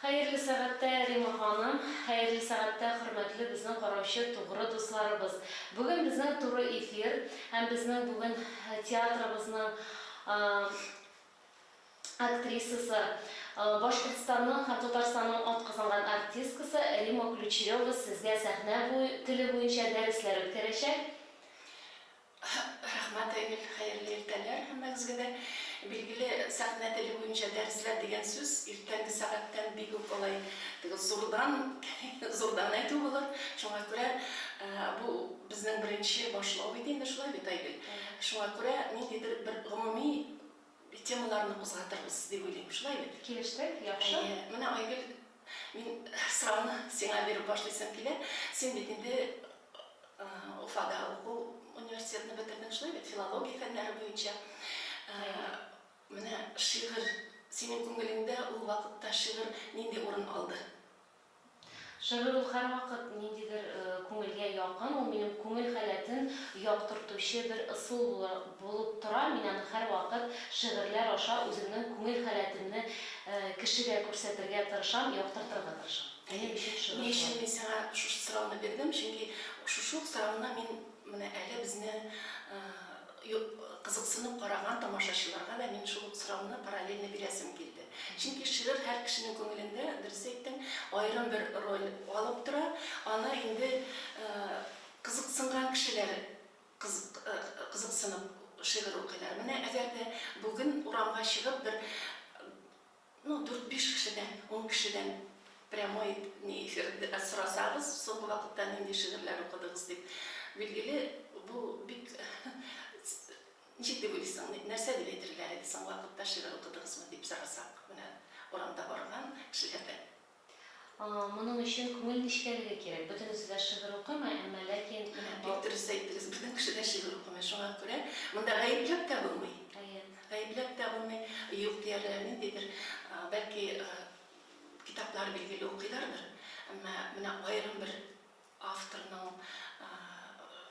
Хәерле сәгатьтә, Рима ханым, хәерле сәгатьтә, хөрмәтле безнең караучы тугры дусларыбыз. Бүген безнең туры эфир һәм безнең бүген театрыбызның актрисасы, Башкортстанның һәм Татарстанның атказанган артисткасы Римма Ключерева сезгә сәхнә теле буенча дәресләр үткәрәчәк. Рәхмәт, Айгөл. Хәерле иртәләр һәммәгезгә дә. Билгеле, сәхнә теле буенча дәресләр дигән сүз иртәнге сәгатьтән бик үк алай теге зурдан, зурдан әйтү булыр. Шуңа күрә бу безнең беренче башлау иде инде, шулай бит, Айгөл? Шуңа күрә ниндидер бер гомуми бит темаларны кузгатырбыз дип уйлыйм. Шулай бит? Килештек, яхшы. Әйе. Менә, Айгөл, мин сорауны сиңа биреп башлыйсым килә. Син бит инде Уфада уку университетны бетердең, шулай бит? Филология фәннәре буенча. Менә шигырь, синең күңелеңдә ул вакытта шигырь нинди урын алды? Шигырь ул һәрвакыт ниндидер күңелгә якын, ул минем күңел халәтен яктыртучы бер ысул булып тора, мин аны һәрвакыт шигырьләр аша үземнең күңел халәтемне кешегә күрсәтергә тырышам, яктыртырга тырышам. Минем өчен шигырь шулай. Ни өчен мин сиңа шушы сорауны бирдем, чөнки шушы ук сорауны мин менә әле безне Юк, кызыксынып караган тамашачыларга да мин шул ук сорауны параллельно бирәсем килде. Чөнки шигырь һәр кешенең күңелендә, дөрес әйттең, аерым бер роль алып тора. Аны инде кызыксынган кешеләр кызыксынып шигырь укыйлар. Менә әгәр дә бүген урамга чыгып бер Ну дүрт-биш кешедән, ун кешедән прямой не эфир сорасагыз, соңгы вакытта нинди шигырьләр укыдыгыз дип. Билгеле, бу бик ничек дип уйлыйсың, нәрсә дип әйтерләр иде соңгы вакытта шигырь укыдыгызмы дип сорасак, менә урамда барган кешеләрдән. Моның өчен күңел нечкәлеге кирәк. Бөтенесе дә шигырь укыймы, әмма ләкин. Менә бик дөрес әйттегез, бөтен кеше дә шигырь укымый, шуңа күрә монда гаепләп тә булмый. Әйе. Гаепләп тә булмый, юк диярлек ниндидер, бәлки, китаплар билгеле укыйлардыр, әмма менә аерым бер авторның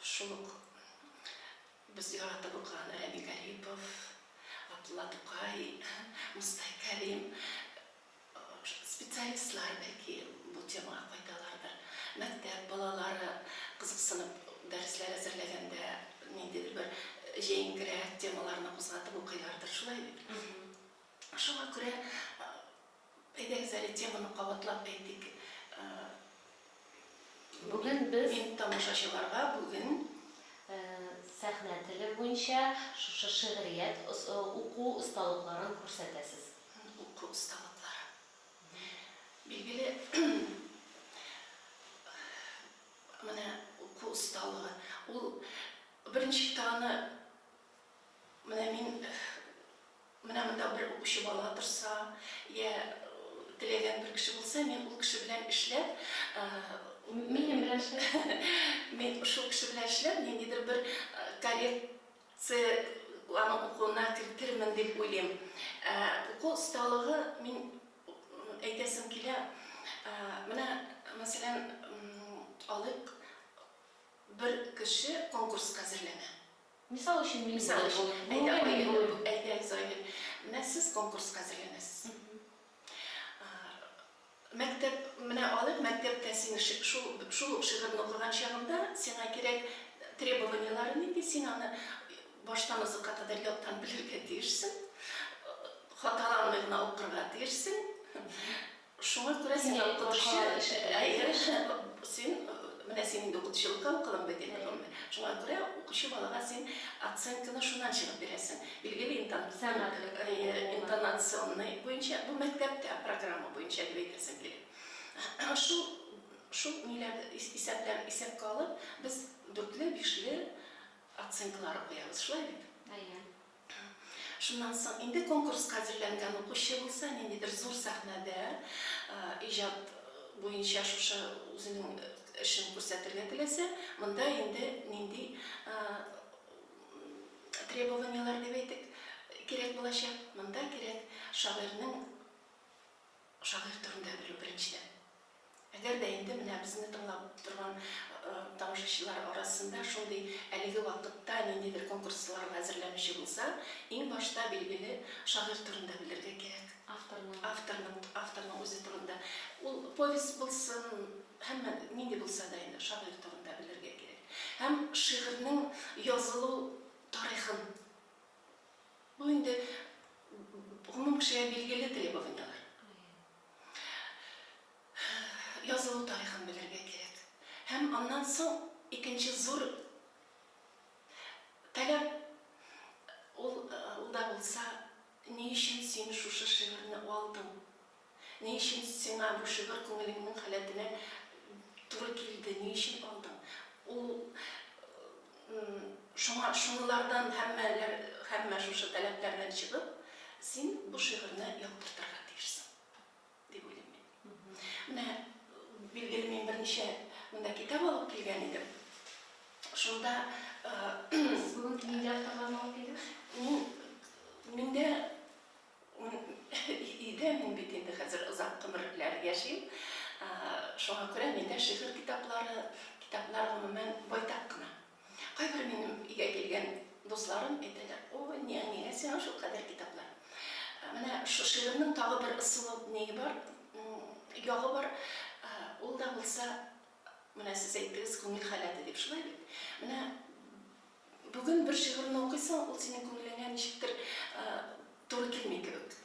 шул ук без яратып укыган Рәми Гарипов, Габдулла Тукай, Мостай Кәрим, Специалистлар, бәлки, бу темага кайталардыр. Мәктәп балалары кызыксынып дәресләр әзерләгәндә ниндидер бер җәенкерәк темаларны кузгатып укыйлардыр, шулай бит? Шуңа күрә, әйдәгез әле теманы кабатлап әйтик. Бүген без. Мин тамашачыларга бүген. Сәхнә теле буенча шушы шигърият уку осталыкларын күрсәтәсез. Һәм уку осталыклары, билгеле, менә уку осталыгы, ул беренче чиктагыны, менә мин, менә монда бер укучы бала торса, йә теләгән бер кеше булса, мин ул кеше белән эшләп, мин шул кеше белән эшләп, ниндидер бер коррект Це аны укуына кертермен дип уйлыйм. Ә уку осталыгы мин әйтәсем килә, менә мәсәлән алыйк, бер кеше конкурска әзерләнә. Мисал өчен мин булыйк ул. Әйдә, мин булыйм. Әйдәгез, Айгөл. Менә сез конкурска әзерләнәсез. Мәктәп, менә алыйк, мәктәптә син шул, шул ук шигырьне укыган чагында сиңа кирәк требованиеләре нинди, син аны баштан азакка кадәр яттан белергә тиешсең, хаталанмый гына укырга тиешсең. Шуңа күрә син укытучы, әйе, син, менә син инде укытучылыкка укыдың бит инде, шуңа күрә укучы балага син оценканы шуннан чыгып бирәсең. Билгеле интон, сәнгать, интонационный буенча, бу мәктәптә программа буенча дип әйтәсем килә. Шул, шул ниләр исәпләр исәпкә алып, без дүртле, бишле оценкалар куябыз, шулай бит? Әйе. Шуннан соң инде конкурска әзерләнгән укучы булса, ниндидер зур сәхнәдә иҗат буенча шушы үзенең эшен күрсәтергә теләсә, монда инде нинди требованиеләр дип әйтик, кирәк булачак. Монда кирәк шагыйрьнең шагыйрь турында белү беренчедән. Әгәр дә инде менә безне тыңлап торган э, тамашачылар арасында шундый әлеге вакытта ниндидер конкурсларга әзерләнүче булса, иң башта билгеле шагыйрь турында белергә кирәк. Авторның авторның авторның үзе турында. Ул повесть булсын, Һәммә нинди булса да инде шагыйрь турында белергә кирәк. Һәм шигырьнең язылу тарихын. Бу инде гомум кешегә билгеле требованияләр. Язылу тарихын белергә кирәк. Һәм аннан соң икенче зур таләп ул да булса, ни өчен син шушы шигырьне алдың? Ни өчен сиңа бу шигырь күңелеңнең халәтенә туры килде, ни өчен алдың? Ул шуңа шунылардан һәммәләр һәммә шушы таләпләрдән чыгып, син бу шигырьне яктыртырга тиешсең дип уйлыйм мин. Менә билгеле мин берничә монда китап алып килгән идем. Шунда Сез бүген нинди авторларны алып килдегез? Мин миндә Өйдә мин бит инде хәзер озак гомерләр яшим. Шуңа күрә миндә шигырь китаплары, китаплар гомумән байтак кына. Кайбер минем өйгә килгән дусларым әйтәләр, Ой, ни, нигә сиңа шул кадәр китаплар? Менә шул шигырьнең тагы бер ысулы ние бар, ягы бар. Ул да булса, менә сез әйттегез, күңел халәте дип, шулай бит? Менә Бүген бер шигырьне укыйсың, ул синең күңелеңә ничектер туры килми кебек.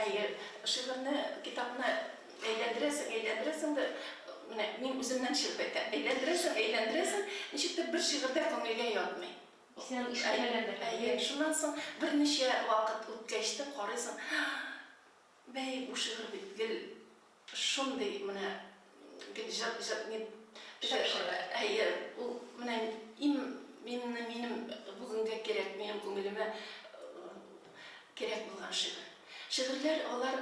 Әйе, шигырьне, китапны әйләндерәсең, әйләндерәсең дә, менә мин үземнән чыгып әйтәм, әйләндерәсең, әйләндерәсең, ничектер бер шигырь дә күңелгә ятмый. Исән ишетмәгәндер. Әйе, шуннан соң берничә вакыт үткәч тә карыйсың, бәй, бу шигырь бит гел Шундый менә бит җыр җыр ник Шәпшәмә. Әйе, ул менә им минне минем бүгенгә кирәк, минем күңелемә кирәк булган шигырь. Шигырьләр алар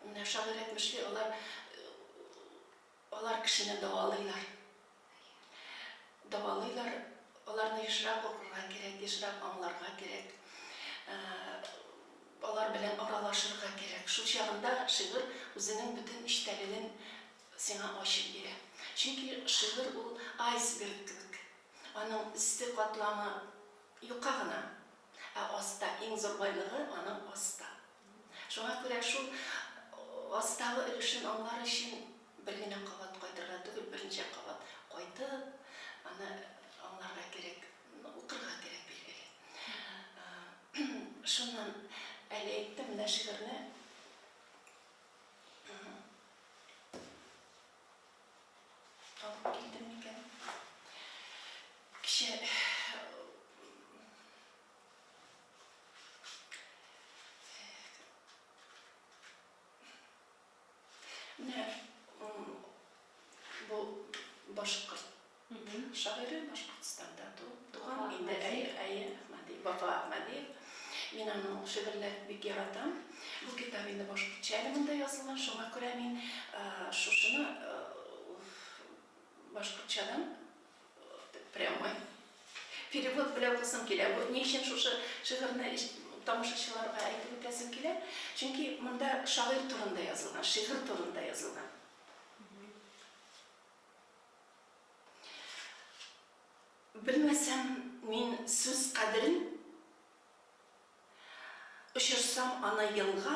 менә шагыйрь әйтмешли, алар Алар кешене дәвалыйлар. Дәвалыйлар. Аларны ешрак укырга кирәк, ешрак аңларга кирәк. Алар белән аралашырга кирәк. Шул чагында шигырь үзенең бөтен эчтәлеген сиңа ачып бирә. Чөнки шигырь ул айсберг кебек. Аның өсте катламы юка гына, ә аста, иң зур байлыгы аның аста. Шуңа күрә шул астагы өлешен аңлар өчен бер генә кабат кайтырга түгел, берничә кабат кайтып, аны аңларга кирәк, укырга кирәк, билгеле. Шуннан әле әйттем, менә шигырьне алып килдем микән? Кичә Менә бу башкорт шагыйре Башкортстанда туган инде әйе Ахмадиев, Вафа Ахмадиев. Мин аның шигырьләрен бик яратам. Бу китап инде башкортча әле монда язылган, шуңа күрә мин шушыны башкортчадан Прямой. Перевод белә укысым килә. Бу ни өчен шушы шигырьне тамашачыларга әйтеп үтәсем килә? Чөнки монда шагыйрь турында язылган, шигырь турында язылган. Белмәсәм мин сүз кадерен, Очырсам аны елга,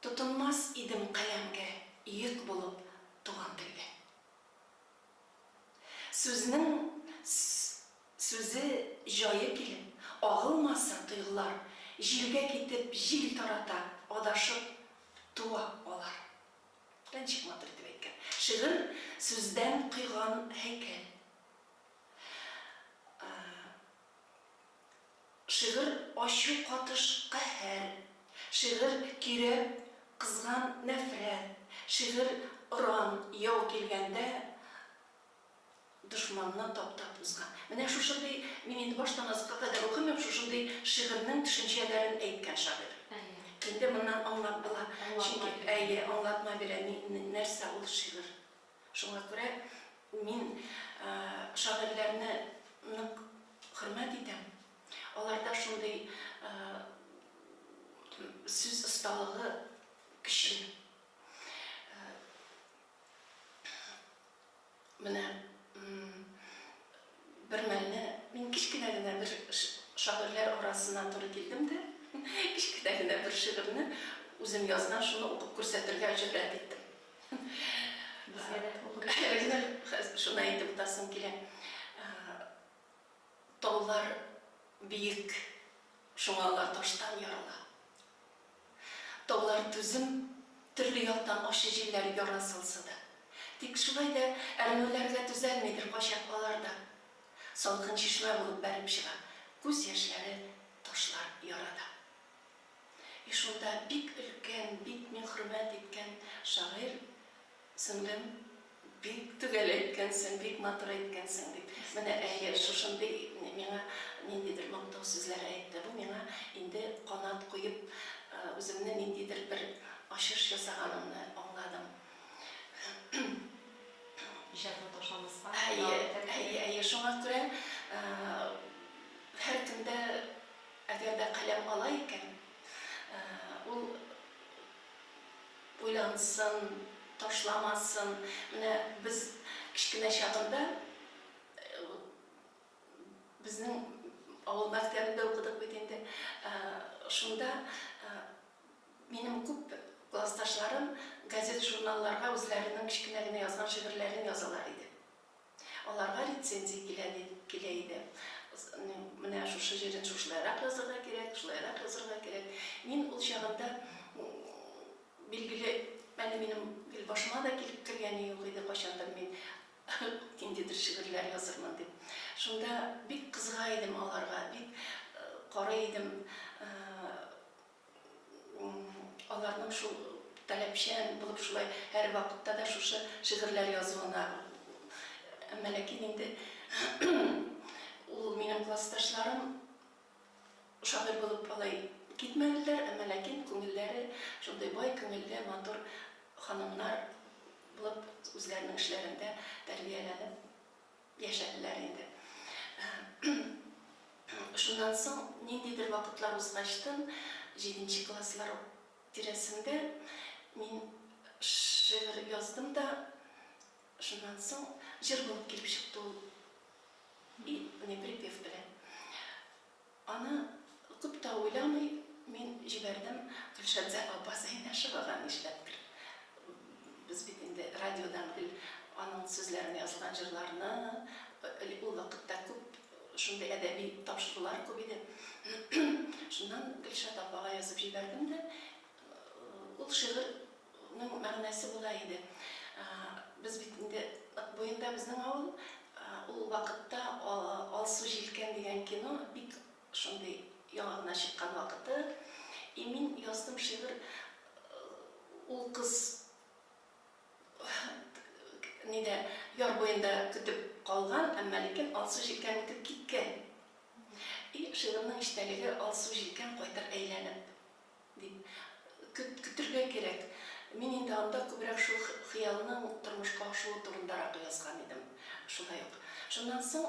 Тотынмас идем каләмгә, Йөк булып туган телгә. Сүзнең сүзе, җае килеп, агылмаса, тойгылар, җилгә китеп, җил тарата, адашып туа алар. Ә ничек матур итеп әйткән! Шигырь, сүздән койган һәйкәл. Шигырь ачу катыш каһәр, шигырь кирәп кызган нәфрәт, шигырь оран яу килгәндә дошманны таптап узган. Менә шушындый, мин инде баштан азыкка кадәр укымыйм, шушындый шигырьнең төшенчәләрен әйткән шагыйрь. Инде моннан аңлап була, чөнки, әйе, аңлатма бирә, нәрсә ул шигырь. Шуңа күрә мин шагыйрьләрне нык хөрмәт итәм. Аларда шундый сүз осталыгы көчле. Менә Бермәлне мин кечкенә генә бер шагыйрьләр арасына туры килдем дә, кечкенә генә бер шигырьне үзем язган, шуны укып күрсәтергә җөрьәт иттем. Безгә дә укып күрсәтегез. Шуны әйтеп утасым килә. Таулар биек, шуңа алар таштан ярала. Таулар түзем, төрле яктан ачы җилләр яра салса да. Тик шулай да әрнүләргә түзәлмидер кайчак алар да. Салкын чишмә булып бәреп чыга күз яшьләре ташлар ярада. И шунда бик өлкән, бик мин хөрмәт иткән шагыйрь. Сеңлем, бик төгәл әйткәнсең, бик матур әйткәнсең, дип. Менә, әйе, шушындый миңа ниндидер мактау сүзләре әйтте. Бу миңа инде канат куеп, үземне ниндидер бер ачыш ясаганымны аңладым. Иҗатны ташламаска дәвам Әйе, итәргә әйе, кирәк. әйе, шуңа күрә һәркем дә, әгәр дә каләм ала икән, ул. Уйлансын, ташламасын. Менә без кечкенә чагында безнең авыл мәктәбендә укыдык бит инде. Шунда минем күп классташларым газет-журналларга үзләренең кечкенә генә язган шигырьләрен язалар иде. Аларга рецензия килә дип килә иде. Менә шушы җирен шушылайрак язырга кирәк, шулайрак язырга кирәк. Мин ул чагында, билгеле, әле минем гел башыма да килеп кергәне юк иде, кайчандыр мин ниндидер шигырьләр язырмын дип. Шунда бик кызыга идем аларга, бик карый идем. Аларның шул таләпчән булып шулай һәрвакытта да шушы шигырьләр язуына. Әмма ләкин инде ул минем классташларым шагыйрь булып алай китмәделәр, әмма ләкин күңелләре шундый бай күңелле, матур ханымнар булып үзләренең эшләрендә тәрбияләнеп, Яшәделәр инде. Шуннан соң ниндидер вакытлар узгачтын, җиденче класслар тирәсендә мин шигырь яздым да, шуннан соң җыр булып килеп чыкты ул, и не припев белән. Аны күп тә уйламый мин җибәрдем, Гөлшәмсә апа Зәйнәшевага нишләптер. Без бит инде радиодан гел аның сүзләренә язылган җырларны, элек ул вакытта күп шундый әдәби тапшырулар күп иде. Шуннан Гөлшат апага язып җибәрдем дә, Ул шигырьнең мәгънәсе болай иде. Без бит инде Ык буенда безнең авыл. Ул вакытта Алсу җилкән дигән кино бик шундый яңа гына чыккан вакыты. И мин яздым шигырь ул кыз нидә яр буенда көтеп калган, әмма ләкин Алсу җилкән үтеп киткән. И шигырьнең эчтәлеге Алсу җилкән кайтыр әйләнеп. Дип, көтергә кирәк. Мин инде анда күбрәк шул хыялның тормышка ашуы турындарак язган идем. Шулай ук. Шуннан соң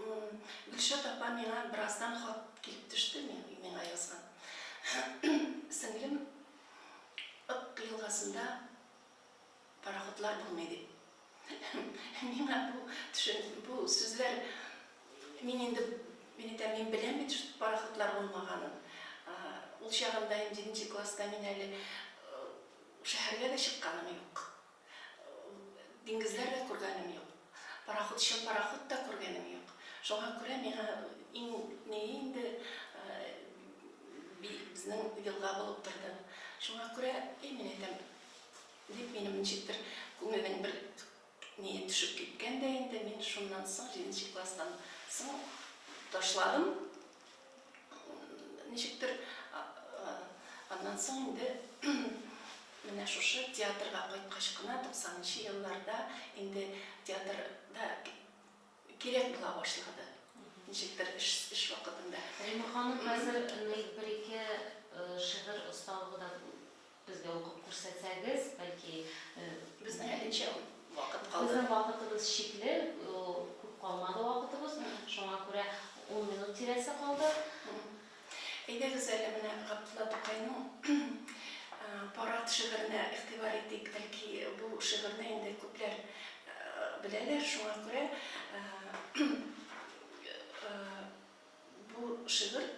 Гөлшат апа миңа бераздан хат килеп төште, миңа язган. Сеңлем, Ык елгасында. Пароходлар булмый дип. Миңа бу төшен, бу сүзләр, мин инде, мин әйтәм, мин беләм бит шул пароходлар булмаганын. Ул чагында ин җиденче класста мин әле шәһәргә дә чыкканым юк. Диңгезләр дә күргәнем юк. Пароходчы пароход та күргәнем юк. Шуңа күрә миңа иң ни инде безнең елга булып торды. Шуңа күрә, әй, мин әйтәм, Дип, минем ничектер күңелнең бер ние төшеп киткән дә инде, мин шуннан соң, җиденче класстан соң ташладым. Ничектер аннан соң инде менә шушы театрга кайткач кына, 90 нчы елларда инде театрда Кирәк була башлады, ничектер эш вакытында. Римма ханым, хәзер бер-ике шигырь осталыгы да безгә укып күрсәтсәгез, бәлки. Безнең әле ничә вакыт калды? Безнең вакытыбыз чикле, күп калмады вакытыбыз. Шуңа күрә ун минут тирәсе калды. Әйдәгез әле менә Габдулла Тукайның Парад шигыренә игътибар итик. Бәлки бу шигырьне инде күпләр беләләр, шуңа күрә бу шигырь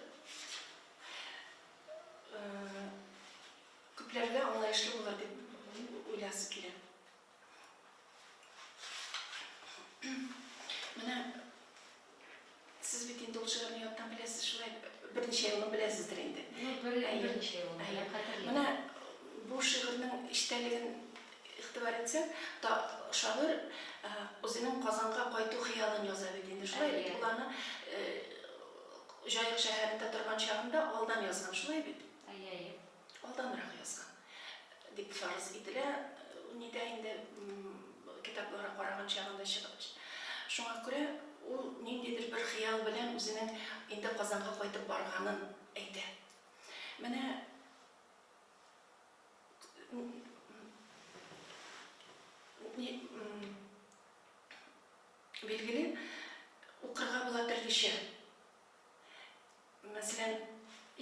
күпләргә аңлаешлы булыр дип уйласым килә. Менә сез бит инде ул шигырьне яттан беләсез, шулай берничә елны беләсездер инде. Ну, берничә елны. Әйе, хәтерлим. Менә бу шигырьнең эчтәлеген игътибар итсәк, та шагыйрь үзенең Казанга кайту хыялын яза бит инде. Шулай бит ул аны Җаек шәһәрендә торган чагында алдан язган, шулай бит? Әйе, әйе. алданрак язган дип фарыз ителә, нидә инде китаплары караган чагында чыгып. Шуңа күрә ул ниндидер бер хыял белән үзенең инде Казанга кайтып барганын әйтә. Менә билгеле, укырга була төрлечә. Мәсәлән,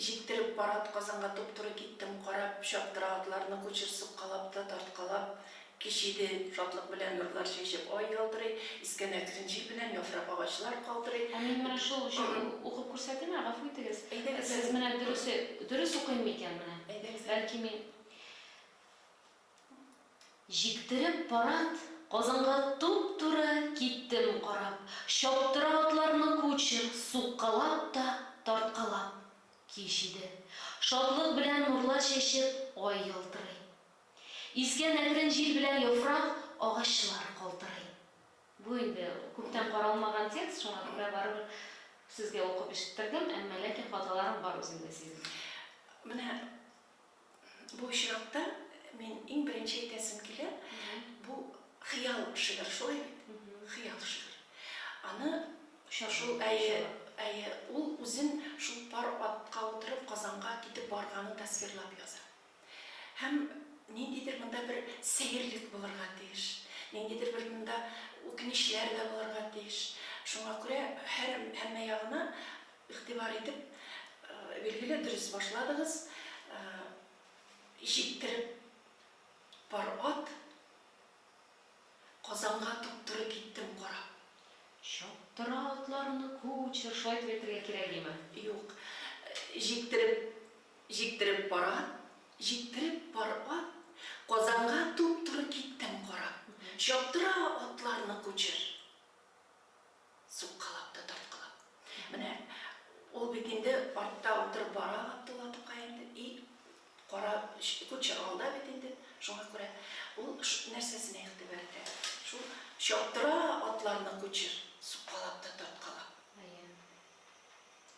җиктереп пар атказанга туп-туры киттем, карап, чаптыра атларны кучер суккалап та, тарткалап, кич иде, шатлык белән нурлар чәчеп ай ялтырый, искән әкрен җил белән яфрак агачлар калтырый. Ә мин менә шул җыр укып күрсәтимме, гафу итегез. Әйдәгез әле. Сез менә дөресе, дөрес укыйммы икән менә? Әйдәгез әле. Бәлки мин. Җиктереп парад Казанга туп-туры киттем карап, чаптыра атларны кучер, суккалап та, тарткалап. Кич иде. Шатлык белән нурлар чәчеп, ай ялтырый. Искән әкрен җил белән яфрак, агачлар калтырый. Бу инде күптән каралмаган текст, шуңа күрә барыбер сезгә укып ишеттердем, әмма ләкин хаталарым бар үземдә сизелә. Менә Бу очракта мин иң беренче әйтәсем килә, бу хыял шигырь, шулай бит? Хыял шигырь. Аны шул әйе, әйе, ул үзен шул пар атка утырып Казанга китеп барганын тасвирлап яза. Һәм ниндидер монда бер сәерлек булырга тиеш, ниндидер бер монда үкенечләр дә булырга тиеш. Шуңа күрә һәр һәммә ягына Игътибар итеп, билгеле, дөрес башладыгыз. Җиктереп пар ат Казанга туп-туры киттем карап. Чаптыра атларны кучер, шулай итеп әйтергә кирәгиме? Юк. Җиктереп Җиктереп пар ат Җиктереп пар ат Казанга туп-туры киттем карап. Чаптыра атларны кучер. Суккалап та тарткалап. Менә ул бит инде артта утырып бара Габдулла Тукай инде, и кара кучер алда бит инде, шуңа күрә ул нәрсәсенә игътибар итә, шул чаптыра атларны кучер, суккалап та тарткалап.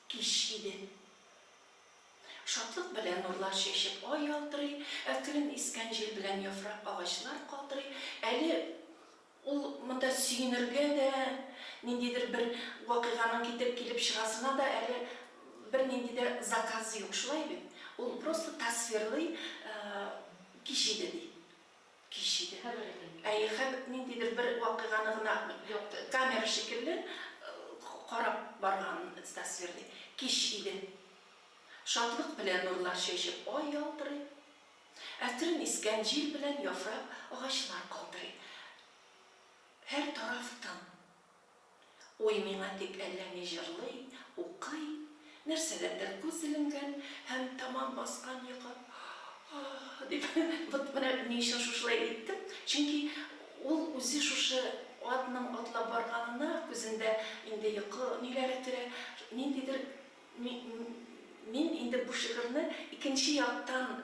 Кич иде. Шатлык белән нурлар чәчеп ай ялтырый, әкрен искән җил белән яфрак агачлар калтырый, әле Ул монда сөенергә дә, ниндидер бер вакыйганың китереп килеп чыгасына да әле бернинди дә заказы юк, шулай бит? Ул просто тасвирлый, кич иде, ди. Кич иде. Хәбәр итә. Әйе, хәб, ниндидер бер вакыйганы гына якты, камера шикелле, карап барганын тасвирлый. Кич иде. Шатлык белән нурлар чәчеп, ай ялтырый. Әкрен искән җил белән яфрак агачлар калтырый. Һәр тараф тын. Уй миңа дип әллә ни җырлый, укый, нәрсәгәдер күз эленгән һәм тәмам баскан йокы Аһ! дип Вот менә ни өчен шушылай әйттем, чөнки ул үзе шушы атның атлап барганына күзендә инде йокы ниләре төрә, ниндидер Мин инде бу шигырьне икенче яктан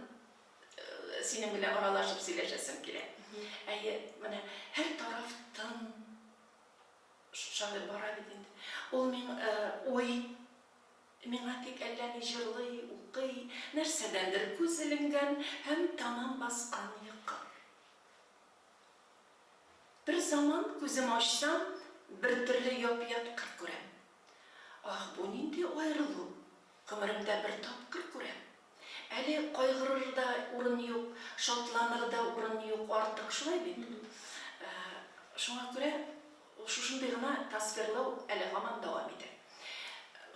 синең белән аралашып сөйләшәсем килә. Әйе, менә һәр тараф тын. Шулай бара бит инде. Ул мин уй, миңа тик әллә ни җырлый, укый, нәрсәдәндер күз эленгән һәм тәмам баскан йокы. Берзаман күзем ачсам, бертөрле яп-ят кыр күрәм. Аһ, бу нинди аерылу! Гомеремдә бер тапкыр күрәм. Әле кайгырыр да урын юк, шатланыр да урын юк артык, шулай бит? Шуңа күрә шушындый гына тасвирлау әле һаман дәвам итә.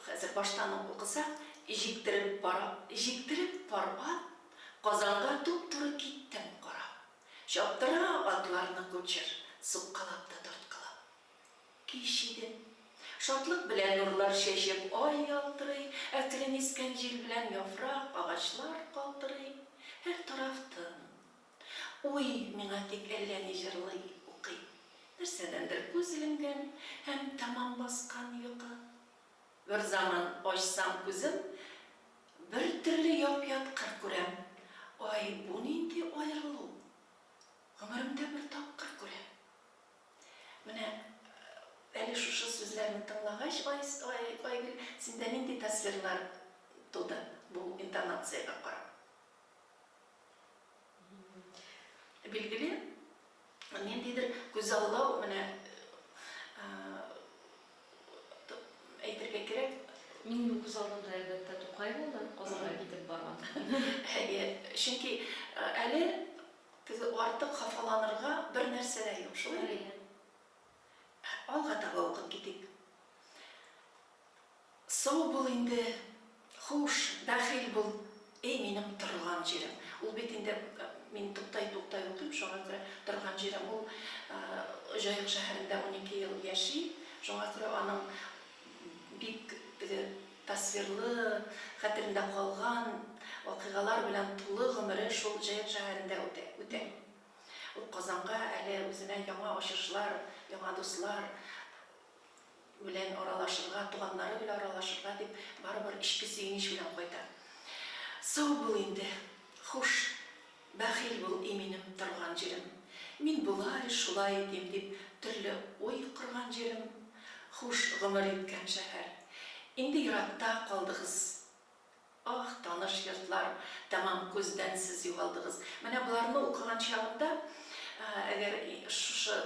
Хәзер баштан ук укысак, Җиктереп пар ат, җиктереп пар ат, Казанга туп-туры киттем карап. Чаптыра атларны кучер, суккалап та тарткалап. Кич иде. Шатлык белән нурлар чәчеп, ай ялтырый, әкрен искән җил белән яфрак, агачлар калтырый. Һәр тараф тын. Уй, миңа тик әллә ни җырлый, укый. Нәрсәдәндер күз эленгән һәм тәмам баскан йокы. Берзаман ачсам күзем, бертөрле яп-ят кыр күрәм. Ай, бу нинди аерылу? Гомеремдә бер тапкыр күрәм. Менә әле шушы сүзләрне тыңлагач, Айгөл, синдә нинди тасвирлар туды бу интонациягә карап? Билгеле, ниндидер күзаллау, менә әйтергә кирәк. Минем күз алдымда, әлбәттә, Тукай булды, Казанга китеп барган. Әйе, чөнки әле Теге артык хафаланырга бер нәрсә дә юк, шулай бит? Әйе. Алга таба укып китик. Сау бул инде, хуш, бәхил бул, эй минем торган җирем. Ул бит инде, мин туктайтуктай укыйм, шуңа күрә торган җирем, ул Җаек шәһәрендә унике ел яши, шуңа күрә аның. Бик теге тасвирлы, хәтерендә калган вакыйгалар белән тулы гомере шул Җаек шәһәрендә үтә. Үтә. Ул Казанга әле үзенә яңа ачышлар, яңа дуслар белән аралашырга, туганнары белән аралашырга дип барыбер эчке сөенеч белән кайта. Сау бул инде, хуш! Бәхил бул, и минем торган җирем. Мин болай, шулай итим дип төрле уй корган җирем. Хуш гомер иткән шәһәр. Инде еракта калдыгыз. Аһ, таныш йортлар, тәмам күздән сез югалдыгыз. Менә боларны укыган чагымда, әгәр шушы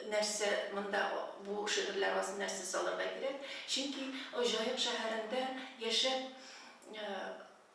нәрсә монда, бу шигырьләр астына нәрсә салырга кирәк, чөнки Җаек шәһәрендә яшәп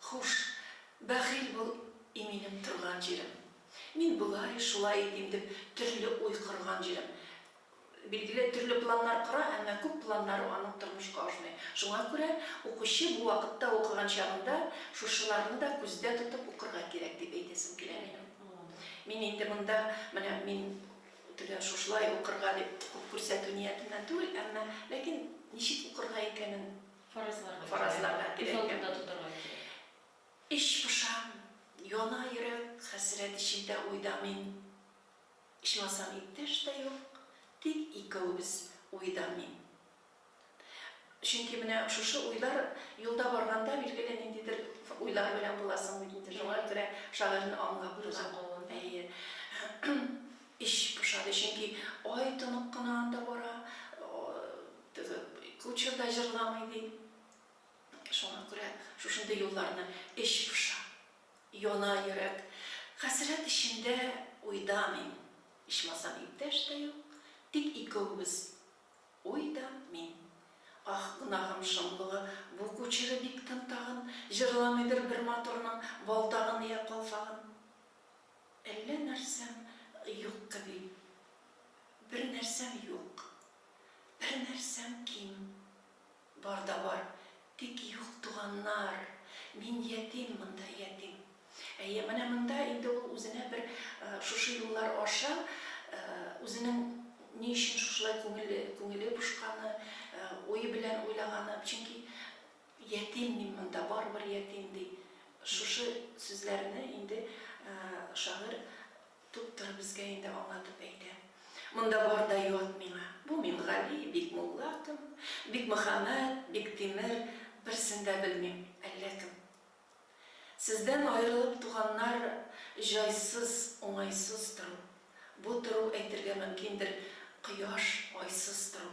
Хуш, бәхил бул, и минем торган җирем. Мин болай, шулай итим дип төрле уй корган җирем. Билгеле, төрле планнар кора, әмма күп планнары аның тормышка ашмый. Шуңа күрә укучы бу вакытта укыган чагында шушыларны да күздә тотып укырга кирәк дип әйтәсем килә минем. Мин инде монда, менә мин төгәл шушылай укырга дип күп күрсәтү ниятеннән түгел, әмма ләкин ничек укырга икәнен, Фаразларга күрә. Фаразларга күз алдында тотарга кирәк. Эч пошам, яна йөрәк, хәсрәт эчендә уйда мин. Ичмасам иптәш тә юк, тик икәвебез уйда мин. Чөнки менә шушы уйлар юлда барганда билгеле ниндидер уйлар белән буласың бит инде, шуңа күрә шагыйрьне аңлап була. Әйе. Эч пошады, чөнки ай тонык кына анда бара. Кучер да җырламый, ди. Шуңа күрә шушындый юлларны эч поша. Яна йөрәк. Хәсрәт эчендә, уйда мин. Ичмасам иптәш тә юк, тик икәвебез. Уй да мин. Аһ, гөнаһым шомлыгы, бу кучеры бик тын тагын, җырламыйдыр бер матурның валтагын йә калфагын. Әллә нәрсәм юк кеби. Бер нәрсәм юк. Бер нәрсәм ким, бар да бар, тик юк туганнар, мин ятим монда, ятим. Әйе, менә монда инде ул үзенә бер шушы юллар аша үзенең ни өчен шушылай күңеле, күңеле пошканы, уе белән уйлаганы, чөнки ятим мин монда, барыбер ятим, ди. Шушы сүзләрне инде шагыйрь Туптыр безгә инде аңа туп әйтә. Монда бар да ят миңа. Бу Мингали, Бикмулла кем, Бикмөхәммәт, Биктимер, берсен дә белмим, әллә кем. Сездән аерылып, туганнар, җайсыз, уңайсыз тору. Бу тору әйтергә мөмкиндер, кояш, айсыз тору.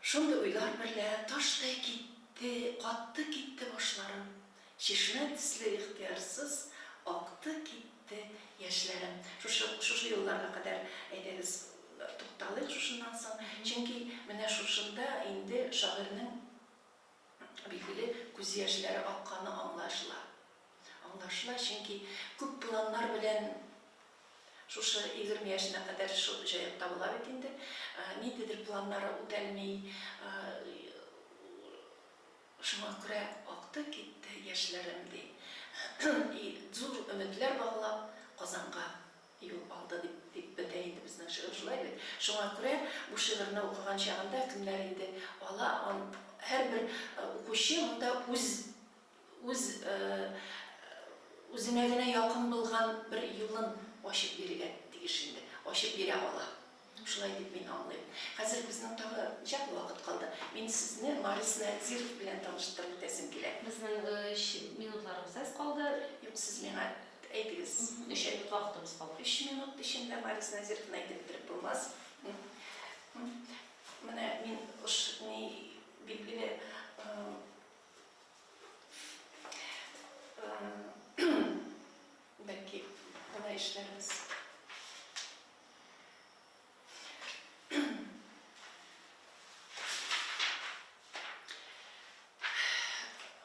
Шундый уйлар берлә таштай китте, катты китте башларым, чишмә төсле ихтыярсыз акты китте яшьләрем. Шушы, шушы елларга кадәр, әйдәгез, тукталыйк шушыннан соң, чөнки менә шушында инде шагыйрьнең Билгеле, күз яшьләре акканы аңлашыла. Аңлашыла, чөнки күп планнар белән шушы егерме яшенә кадәр шул җаекта була бит инде. Ниндидер планнары үтәлми, шуңа күрә акты китте яшьләрем, ди. И зур өметләр баглап, Казанга. Юл алды дип дип бетә инде безнең шигырь, шулай бит? Шуңа күрә бу шигырьне укыган чагында кемнәр инде ала ан һәрбер укучы монда үз үз үзенә генә якын булган бер юлын ачып бирергә тиеш инде, ачып бирә ала. Шулай дип мин аңлыйм. Хәзер безнең тагы ничәкле вакыт калды? Мин сезне Марис Надзиров белән таныштырып үтәсем килә. Безнең өч минутларыбыз әз калды. Юк, сез миңа әйтегез. Өч минут вакытыбыз калды. Өч минут эчендә Марис Надзировны әйтеп бетереп булмас. Менә мин уш ни билгеле бәлки болай эшләрбез.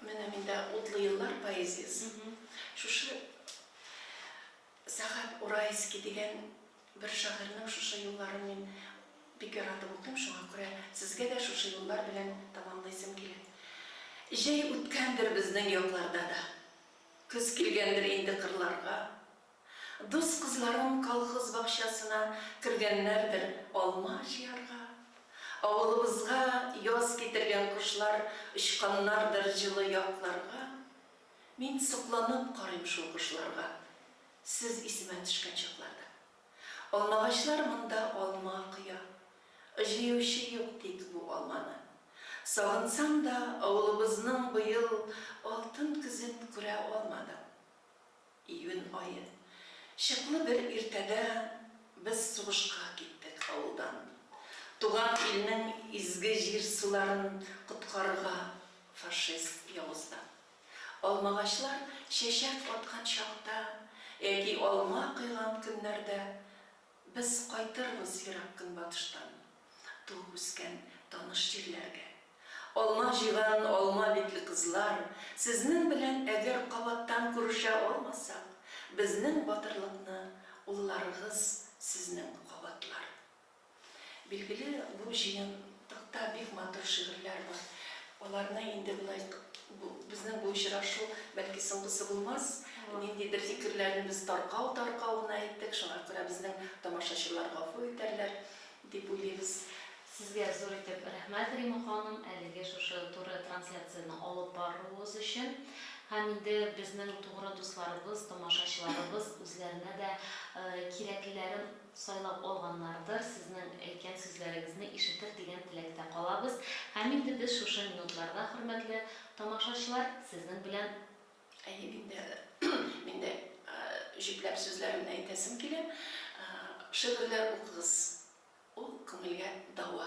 Менә миндә утлы еллар поэзиясы. Шушы Сәхәп Урайский дигән бер шагыйрьнең шушы юлларын мин бик яратып укыйм, шуңа күрә сезгә дә шушы юллар белән тамамлыйсым килә. Җәй үткәндер безнең якларда да. Көз килгәндер инде кырларга. Дус кызларым колхоз бакчасына кергәннәрдер алма җыярга. Авылыбызга яз китергән кошлар очканнардыр җылы якларга. Мин сокланып карыйм шул кошларга, сез исемә төшкән чакларда. Алмагачлар монда алма коя, җыючы юк тик бу алманы. Сагынсам да, авылыбызның быел алтын көзен күрә алмадым. Июнь ае. Чыклы бер иртәдә без сугышка киттек авылдан. Туган илнең изге җир-суларын коткарырга фашист явыздан. Алмагачлар чәчәк аткан чакта яки алма койган көннәрдә Без кайтырбыз ерак көнбатыштан, туып-үскән таныш җирләргә. Алма җыйган алма битле кызлар, сезнең белән әгәр кабаттан күрешә алмасак, безнең батырлыкны улларыгыз сезнең кабатлар. Билгеле, бу җыен Токта бик матур шигырьләр бар. Аларны инде болай бу безнең бу очрашу бәлки соңгысы булмас. Ниндидер фикерләрне без таркау таркау гына әйттек, шуңа күрә безнең тамашачылар гафу итәрләр дип уйлыйбыз. Сезгә зур итеп рәхмәт, Рима ханым, әлеге шушы туры трансляцияне алып баруыгыз өчен. Һәм инде безнең тугры дусларыбыз, тамашачыларыбыз үзләренә дә кирәклеләрен, сайлап алганнардыр, сезнең әйткән сүзләрегезне ишетер дигән теләктә калабыз һәм инде без шушы минутларда, хөрмәтле тамашачылар, сезнең белән. Әйе, мин дә, мин дә җөпләп сүзләремне әйтәсем килә. Шигырьләр укыгыз, ул күңелгә дәва.